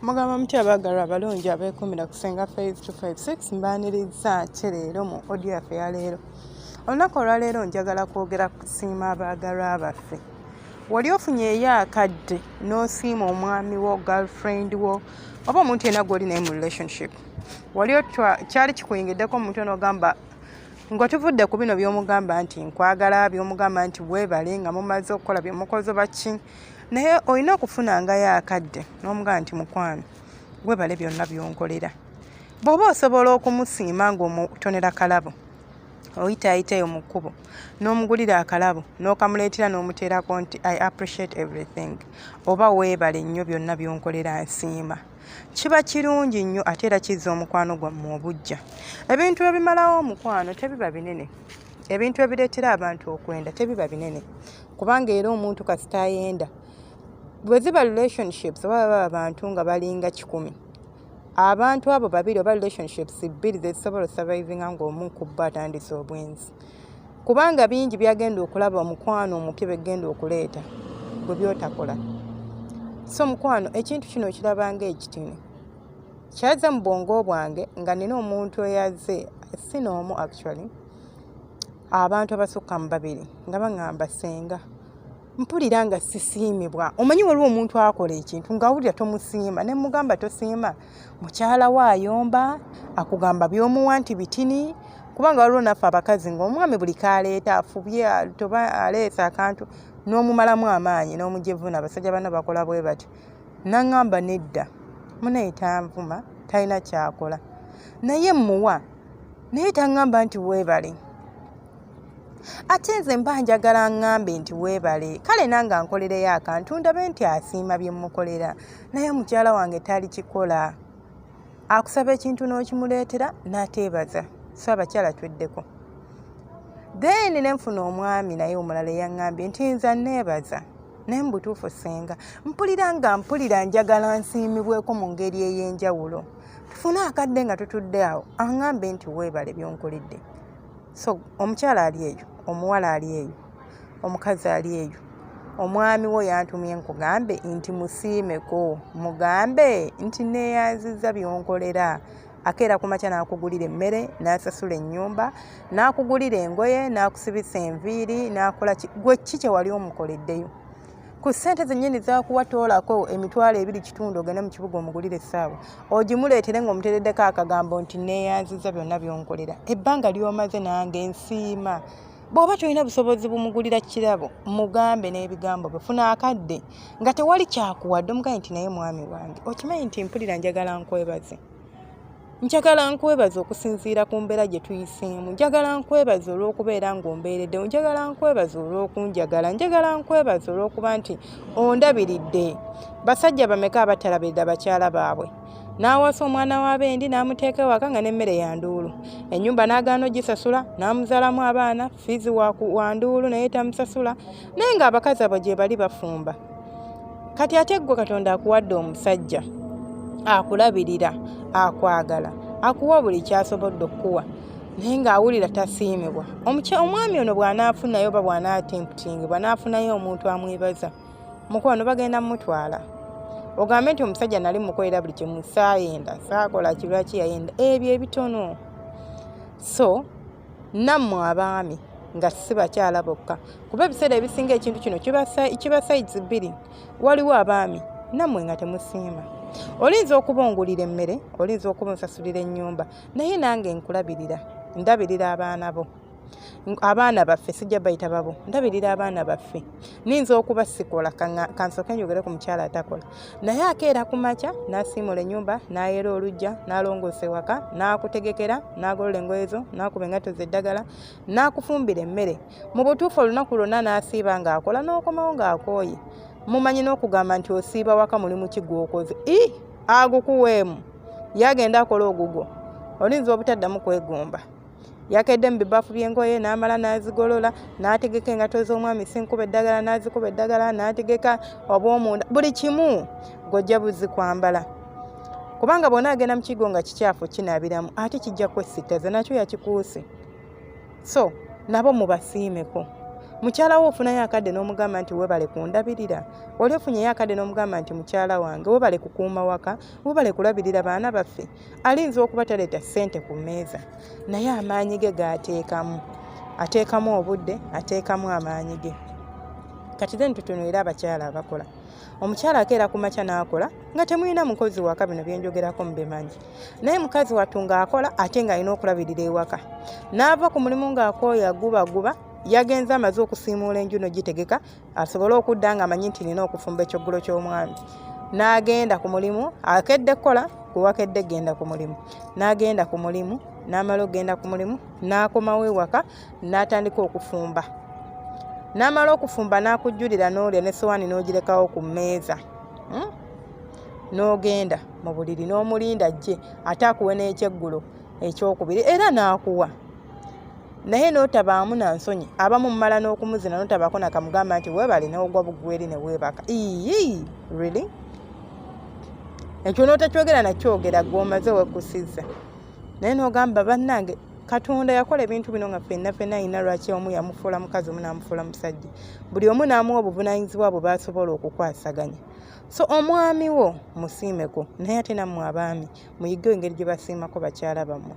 mugamba mutya abaagalwa abalungi abeekuumira ku senga faith 256 mbaaniriza ki leero mu odio yaffe ya leero olunaku olwaleero njagala kwogera kusiima abaagalwa baffe wali ofunye eyo akadde n'osiima omwami wo girlfriend wo oba omuntu yena gwoli naye mu relationship wali otwa kyali kikuyingiddeko mu mutwe n'ogamba ng'otuvudde ku bino by'omugamba nti nkwagala by'omugamba nti weebale nga mumaze okukola bye mukozo baki naye olina okufunangayo akadde n'omugamba nti mukwano weebale byonna by'onkolera bw'oba osobola okumusiima ng'omutonera kalabo oyitaayitayo mu kkubo n'omugulira akalabo n'okamuleetera n'omuteerako nti i appreciate everything oba weebale nnyo byonna by'onkolera nsiima kiba kirungi nnyo ate era kizza omukwano gwammwe obujja ebintu ebimalawo omukwano tebiba binene ebintu ebireetera abantu okwenda tebiba binene kubanga era omuntu kasita ayenda bwe ziba relationships oba baba abantu nga balinga kikumi abantu abo babiri oba relationships bbiri zezisobola osurvivinga ng'omu kubba atandise obwenzi kubanga bingi byagenda okulaba omukwano omupya begenda okuleeta bwe byotakola so mukwano ekintu kino okirabanga ekitini kyaza mu bwongo bwange nga nina omuntu eyaze si noomu actually abantu abasukka mu babiri nga baŋamba senga mpulira nga sisiimibwa omanyi waliwo omuntu akola ekintu ngaawulira tomusiima ne mugamba tosiima mukyala we ayomba akugamba byomuwa nti bitini kubanga waliwo naffe abakazi ngaomwami buli kaleeta afubye toba aleesa akantu n'omumalamu amaanyi n'omujevuna abasajja bana bakola bwe batyo naŋŋamba nedda munaye tanvuma talina kyakola naye mmuwa naye taŋŋamba nti weebale ate nze mba njagala ngambe nti weebale kale nange ankolereyo akantu ndabe nti asiima bye mmukolera naye mukyala wange tali kikola akusaba ekintu n'okimuleetera n'ateebaza so abakyala tweddeko then ne nfuna omwami naye omulala eyaŋŋambye nti nza neebaza naye mu butuufu ssenga mpulira nga mpulira njagala nsiimibweko mu ngeri ey'enjawulo tufune akadde nga tutudde awo aŋŋambe nti weebale byonkoledde so omukyala ali eyo omuwala ali eyo omukazi ali eyo omwami wo yantumye nkugambe nti musiimeko mugambe nti neeyanziza byonkolera akeera ku makya n'akugulira emmere n'asasula ennyumba n'akugulira engoye n'akusibisa enviiri n'akola gwe ki kye wali omukoleddeyo ku ssente zennyini zakuwa toolako emitwalo ebiri kitundu ogende mu kibuga omugulire essaawa ogimuleetere ng'omutereddeko akagambo nti neeyanziza byonna byonkolera ebbanga ly'omaze nange nsiima bw'oba tolina busobozi bumugulira kirabo mugambe n'ebigambo bwe funa akadde nga tewali kyakuwadde omugambe nti naye mwami wange okimanyi nti mpulira njagala nkwebaze njagala nkwebaza okusinziira ku mbeera gye tuyiseemu njagala nkwebaza olw'okubeera ng'ombeereddewo njagala nkwebaza olw'okunjagala njagala nkwebaza olw'okuba nti ondabiridde basajja bameka abatalabirira bakyala baabwe n'awasa omwana w'abendi n'amuteeka ewaka nga n'emmere ya nduulu ennyumba n'agaana ogisasula n'amuzalamu abaana fiizi wanduulu naye tamusasula naye nga abakazi abo gyebali bafumba kati ate ggwe katonda akuwadde omusajja akulabirira akwagala akuwa buli kyasobodde okukuwa naye ng'awulira tasiimibwa omwami ono bw'anaafunayo oba bw'anaatimputingibwa n'afunayo omuntu amwebaza mukwano bagenda mumutwala ogambe nti omusajja nali mukolera buli kimu saayenda saakola kibula kiyayenda ebyo ebitono so nammwe abaami nga si bakyala bokka kuba ebiseera ebisinga ekintu kino kiba sayizi bbiri waliwo abaami nammwe nga temusiima olinza okuba ongulira emmere olinza okuba onsasulira ennyumba naye nange nkulabirira ndabirira abaana bo abaana baffe sijja bayita babo ndabirira abaana baffe ninza okuba sikola kansoke njogere ku mukyala atakola naye akeera ku makya nasiimula enyumba nayera olujja nalongoosa ewaka nakutegekera nagolola engoye zo nakuba engato zeddagala nakufumbira emmere mu butuufu olunaku lwonna nasiiba ngaakola nokomawo ngaakooye mumanyi nokugamba nti osiiba waka mulimu ki gwokoze i agukuweemu yagenda akola ogugwo olinza obutaddamu kwegomba yakedde mu bibaafu by'engoye n'amala n'azigolola n'ategeka engato z'omwami sinkuba eddagala n'azikuba eddagala n'ategeka obwomunda buli kimu gojja buzi kwambala kubanga bwona agenda mukigo nga kikyafu kinabiramu ate kijja kwesitaza nakyo yakikuuse so nabo mubasiimeko mukyalawo ofunayo akadde n'omugamba nti webale kundabirira oli ofunyeyo akadde n'omugamba nti mukyala wange webale kukuuma waka webale kulabirira baana baffe alinza okuba taleeta ssente ku mmeeza naye amaanyi ge gaateekamu ateekamu obudde ateekamu amaanyi ge kati then tutunulire abakyala abakola omukyala akeera ku makya n'akola nga temulina mukozi waka bino byenjogerako mubimanyi naye mukazi wattu ng'akola ate ng'alina okulabirira ewaka n'ava ku mulimu ng'akooya gubaguba yagenze amaze okusiimuula enju no gitegeka asobole okudda nga amanyi nti nina okufumba ekyoggulo ky'omwami n'agenda ku mulimu akedde kukola gwewakedde genda ku mulimu n'agenda ku mulimu n'amala okugenda ku mulimu n'akomawo ewaka n'atandika okufumba n'amala okufumba n'akujjulira n'olya ne sowaani n'ogirekawo ku mmeeza hmm? n'ogenda mu buliri n'omulinda ajje ate akuwe n'ekyeggulo ekyokubiri era n'akuwa naye notabaamu na nsonyi abamu mumala n'okumuzina notabaako nakamugamba nti weebale newogwa bugweri ne weebaka iyii really ekyo notakyogera nakyogera gwomaze wekusiza naye nogamba bannange katonda yakola ebintu bino nga fenna fenna alina lwaki omu yamufuula mukazi omu namufuula musajja buli omu naamuwa obuvunanyizibwa bwe basobola okukwasaganya so omwami wo musiimeko naye ate nammwe abaami muyige engeri gye basiimako bakyala bammwe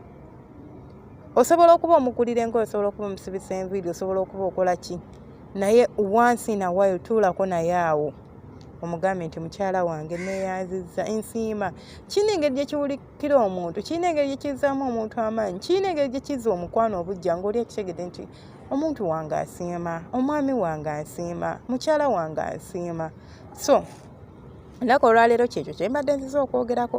osobola okuba omukulira enkola osobola okuba omusibisa enviiri osobola okuba okola ki naye once in a while tuulako naye awo omugambe nti mukyala wange neyanziza ensiima kirina engeri gyekiwulikira omuntu kirina engeri gyekizzaamu omuntu amaanyi kirina engeri gyekizza omukwano obujja ngaoli ekitegede nti omuntu wange asiima omwami wange asiima mukyala wange asiima so ennaku olwaleero kyekyo kyembadde nziza okwogerako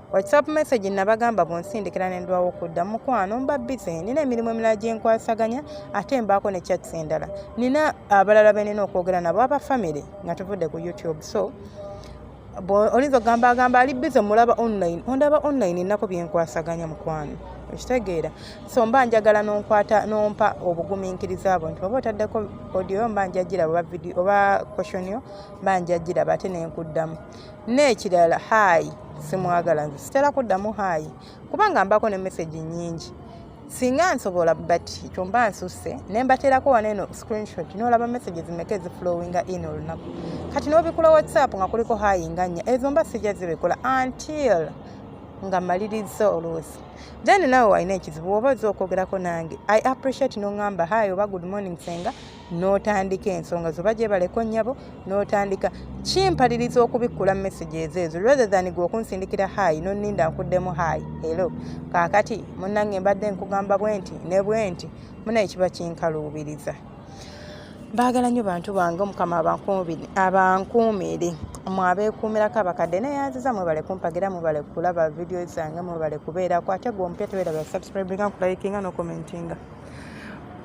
WhatsApp message nabagamba bwonsindikira ne ndwawo okudda mukwano mba busy nina emirimu emirala gye nkwasaganya ate mbaako ne chats endala nina abalala be nina okwogera nabo aba family nga tuvudde ku YouTube so oyinza okugamba agamba ali busy mulaba online ondaba online enako bye nkwasaganya mukwano okitegeera so mba njagala nonkwata nompa obugumiikiriza abo nti oba otaddeko audio mba njagiraba oba video oba questionio mba njagiraba ate nenkuddamu n'ekirala haayi simwagala nze sitera kuddamu haayi kubanga mbako ne message nyingi singa nsobola but ekyo mba nsusse ne mbateerako wano eno screenshot n'olaba message zimeka eziflowinga in olunaku kati n'obikula whatsapp nga kuliko haayi nga nnya ezo mba sijja zibikola until nga maliriza oluusi then nawe walina ekizibu woba oza okwogerako nange i appreciate nongamba hi oba good morning senga n'otandika ensonga zo bajebaleko nyabo n'otandika kimpaliriza okubikkula message ezo ezo rather than gwe okunsindikira hayi noninda nkuddemu hayi elo kaakati munnange mbadde nkugamba bwenti ne bwenti munaye kiba kinkaluubiriza baagala nnyo bantu bange omukama abankuumire mwabeekuumirako abakadde naye aziza mwebale kumpagira mwebale kulaba vidiyo zange mwebale kubeerako ate gwe omupya tebeera basubscribinga nkulayikinga nokomentinga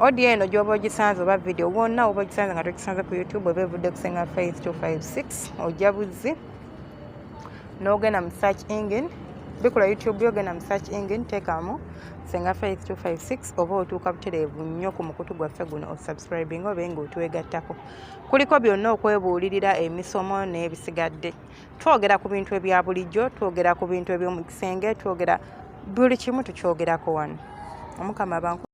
odiyo eno gyoba ogisanze oba vidiyo wonna oba ogisanze nga togisanze ku youtube oba evudde kusenga faith 256 ojja buzzi n'ogenda mu search engine bikula youtube yogenda mu search engine teekamu senga faith 256 oba otuuka butereevu nnyo ku mukutu gwaffe guno osubscribing obe nga otwegattako kuliko byonna okwebuulirira emisomo n'ebisigadde twogera ku bintu ebya bulijjo twogera ku bintu eby'omu kisenge twogera buli kimu tukyogerako wano omukama banku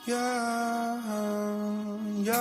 Yeah, yeah.